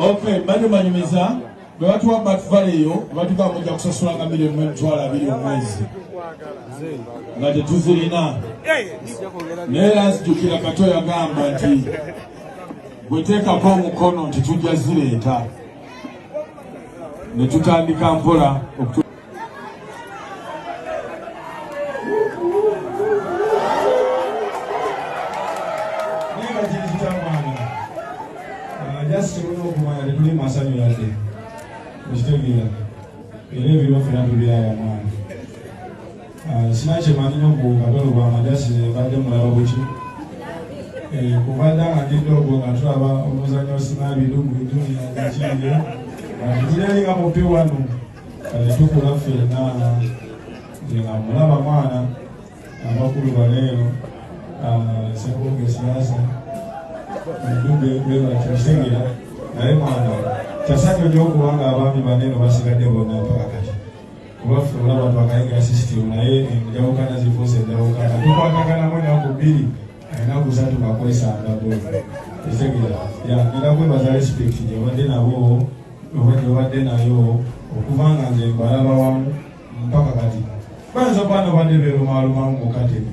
Okay, bado manyumiza bwe batuwa batvale eyo batuga mujja kusasula nga milioni mu emitwalo abiri omwezi nga tetuzirina naye era nzijukira kato yagamba nti bweteekako omukono nti tujja zireeta ne tutandika mpola okutu Ah, sina kyemanyi nyo ku kabalo bwa majasi mbadde mulaba buki eh, kubadde nga ndidde ogwo nga tulaba omuzanyo sinabidu mu bidunia ekiyire atulyalinga mupi wano kati tukula ffenna nga mulaba mwana abakulu baleero ah, sekunga esiyaasa edube bebakyosegera naye mwana kyasanyonyo okuba nga abaami baneno basigadde bonna mpaka kati kubafuula abantu bakayiga sisitimu naye enjawukana zifuuse enjawukana tukwatagana mu enaku bbiri enaku satu ngakozesa ndago etegera yagenda kwebaza respect gyebadde nabo oba gyebadde nayo okuva nga nze mbalaba wamu mpaka kati bayinza kuba nobadde beerumaalumamu mukatemi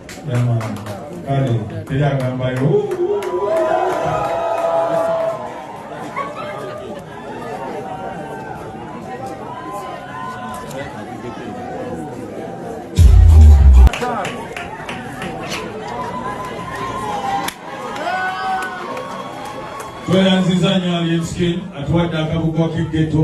kale teri agambayo tweyanziza nyo alien skin atuwadde akabugo k'eggeto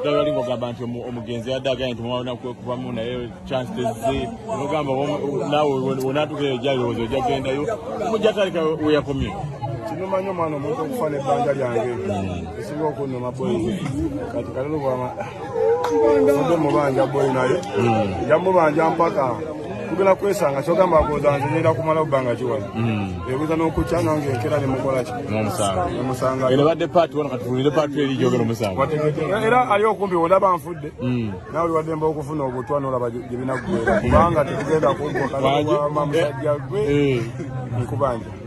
ddagala ngogamba nti omugenzi yadde agambye nti mwana kubamu naye chance tezze ogamba naawe wonatukeyo jalowooza ojja kugendayo mujja talika weyakomye kinumanyi omwana omuntu okufa nebbanja lyange esinga okunuma boyi kati kalulu fudde mubanja boy naye hmm. yamubanja mpaka tugenda kwesanga kyogamba agoza nze ngenda kumala obbanga kiwala hmm. ebuza n'okukya nange enkera ne mukola ki omusanga era badde paati wano katufulire paati eri gyogera omusanga era ali okumpi olaba nfudde hmm. nawe waddemba okufuna obutwa nolaba gye binaggwera kubanga tetugenda kuggwa kalawa musajja gwe eh. nkubanja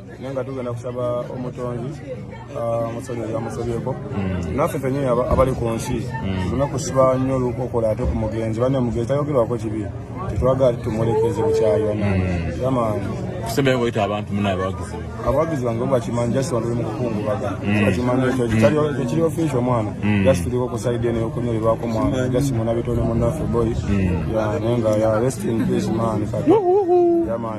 naye nga tugenda kusaba omutonzi ah, musonyi yamusobyeko hmm. naffe fenyini abali ku nsi hmm. tulina kusiba nnyo olukokola ate ku mugenzi bane mugenzi tayogerwako kibi tetwagala tumulekeze bukyayi banange hmm. yamaani kusembeyo ngoyita abantu munaye abawagizi abawagizi bange bakimanyi just wanduli mu kukungubaga bakimanyi ekyo ekiri ofiisi omwana just tuliko ku saidi eno yokunyolebwako mwana just munabitone munaffe boy naye nga ya rest in peace man kati yamaani